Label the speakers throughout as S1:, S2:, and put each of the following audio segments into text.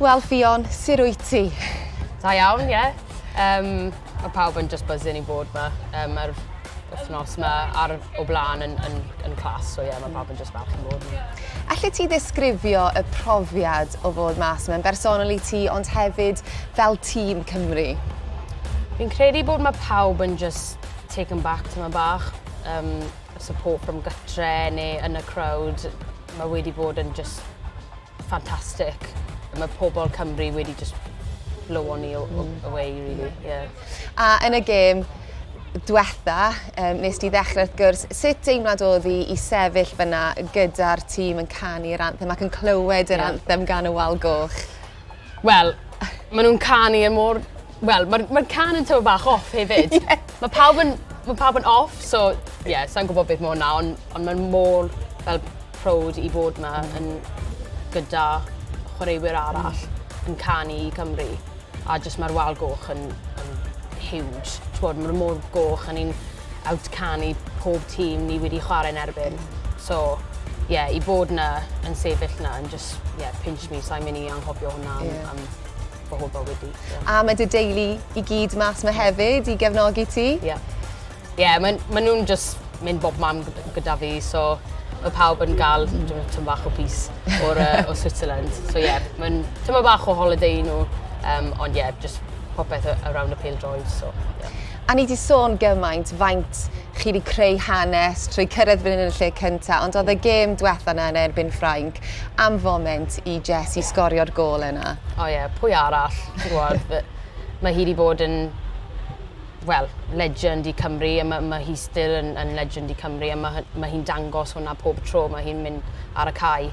S1: Wel, Ffion, sir wyt ti? Da iawn, ie. Yeah. Um, mae pawb yn just buzzing i bod yma. Um, mae'r wythnos yma ar o blaen yn, yn, yn clas, so ie, yeah, mae pawb yn just falch i bod yma. Alle ti ddisgrifio y profiad o fod mas yma'n bersonol i ti, ond hefyd fel tîm Cymru? Fi'n credu bod mae pawb yn just taken back tyma bach. Um, support from gytre neu yn y crowd. Mae wedi bod yn just ffantastig. Mae pobl Cymru wedi just blow on i mm. away, really. Yeah. A yn y gêm, diwetha, um, nes ti ddechrau wrth gwrs, sut deimlad oedd i, i sefyll fyna gyda'r tîm yn canu'r anthem ac yn clywed yr yeah. anthem gan y wal goch? Wel ma' nw'n canu e mor wel ma'r ma'r cân yn tymed bach off hefyd. Ie. Ma' pawb yn ma' pawb yn off so ie sai'n gwbod beth ma' 'wn 'na on' on' ma'n mor fel prowd i fod 'ma yn gyda chwaraewyr arall yn canu i Cymru a jyst ma'r wal goch yn yn huge t'wod ma' n'w mor goch a ni'n outcan i pob tîm ni wedi chwarae'n erbyn. So, ie, yeah, i bod na yn sefyll na yn just, ie, yeah, pinch me, sa'n mynd i anghofio hwnna am, yeah. am fy holl bywyd i. So. A mae dy deulu i gyd mas mae hefyd i gefnogi ti? Ie. Yeah. Ie, yeah, maen ma nhw'n just mynd bob mam gyda fi, so mae pawb yn gael tymor bach o bus o'r, uh, o Switzerland. So ie, yeah, mae'n tymor bach o holiday i nhw, um, ond ie, yeah, just popeth around y pêl droed. So, yeah. A ni 'di sôn gymaint faint chi 'di creu hanes trwy cyrraedd fan hyn yn y lle cynta, ond oedd y gêm dwetha 'na yn erbyn Ffrainc am foment i Jessie sgorio'r gôl yna. O ie, pwy arall? Ti'n gwybod, mae hi 'di bod yn, wel, legend i Cymru, a ma' ma' hi still yn yn legend i Cymru, a ma' hy- ma' hi'n dangos hwnna pob tro ma' hi'n mynd ar y cae.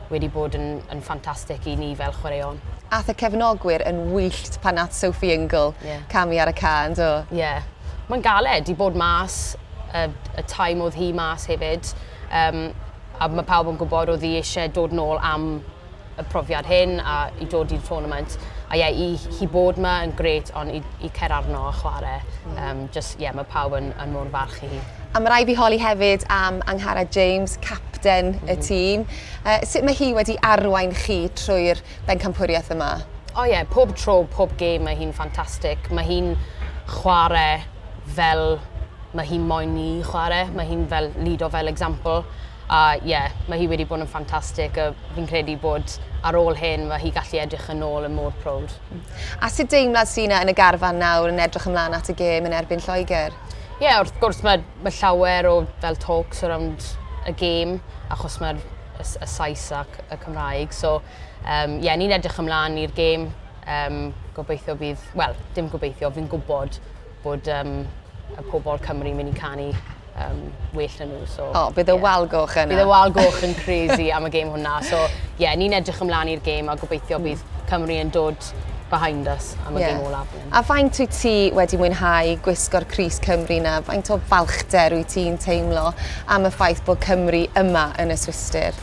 S1: wedi bod yn, yn ffantastig i ni fel chwaraeon. Ath y cefnogwyr yn wyllt pan nath Sophie Ingle yeah. camu ar y can, do? Ie. Yeah. Mae'n galed i bod mas, y, y time oedd hi mas hefyd. Um, a mae pawb yn gwybod oedd hi eisiau dod nôl am y profiad hyn a i dod i'r tournament. A ie, i, hi bod yma yn gret, ond i, i cer arno a chwarae, um, just, ie, yeah, mae pawb yn, yn mor farch i hi. A ma' raid fi holi hefyd am Angharad James, capten y tîm. Yy sut mae hi wedi arwain chi trwy'r bencampwriaeth yma? O ie, pob tro, pob gêm mae hi'n ffantastig. Mae hi'n chware fel ma' hi moyn ni chware. Mae hi'n fel lido fel example. A ie, mae hi wedi bod yn ffantastig a fi'n credu bod ar ôl hyn ma' hi gallu edrych yn ôl yn mor proud. A sut deimlad sy' 'na yn y garfan nawr yn edrych ymlan at y gêm yn erbyn Lloegr? Ie wrth gwrs ma' ma' llawer o fel talks around y gêm achos ma'r y S- y Sais ac y Cymraeg so yym ie ni'n edrych ymlan i'r gêm yym gobeithio bydd wel dim gobeithio fi'n gwbod bod yym y pobol Cymru myn' i canu yym well na n'w so... O bydd y wal goch yna. Bydd y wal goch yn crazy am y gêm hwnna so ie ni'n edrych ymlan i'r gêm a gobeithio bydd Cymru yn dod behind us am y gêm ola. A faint wyt ti wedi mwynhau gwisgo'r crys Cymru 'na? Faint o balchder wyt ti'n teimlo am y ffaith bod Cymru yma yn y Swistir?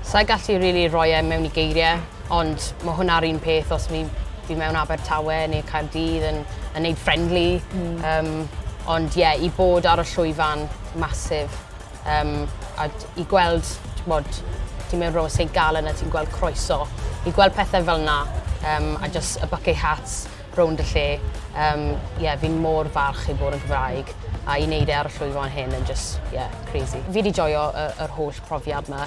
S1: Sa i gallu rili rhoi e mewn i geirie, ond ma' hwnna'r un peth os fi fi mewn Abertawe neu Caerdydd yn yn neud friendly. Hmm. Yym ond ie i bod ar y llwyfan, massive. Um, a i gweld, ti'n bod, ti'n mynd rhwng y St Gallen a ti'n gweld croeso, i gweld pethau fel yna, um, a just y bucket hats rownd y lle, um, yeah, fi'n mor falch i bod yn Gymraeg, a i wneud e ar y llwyfan hyn yn just, yeah, crazy. Fi wedi joio yr holl profiad yma,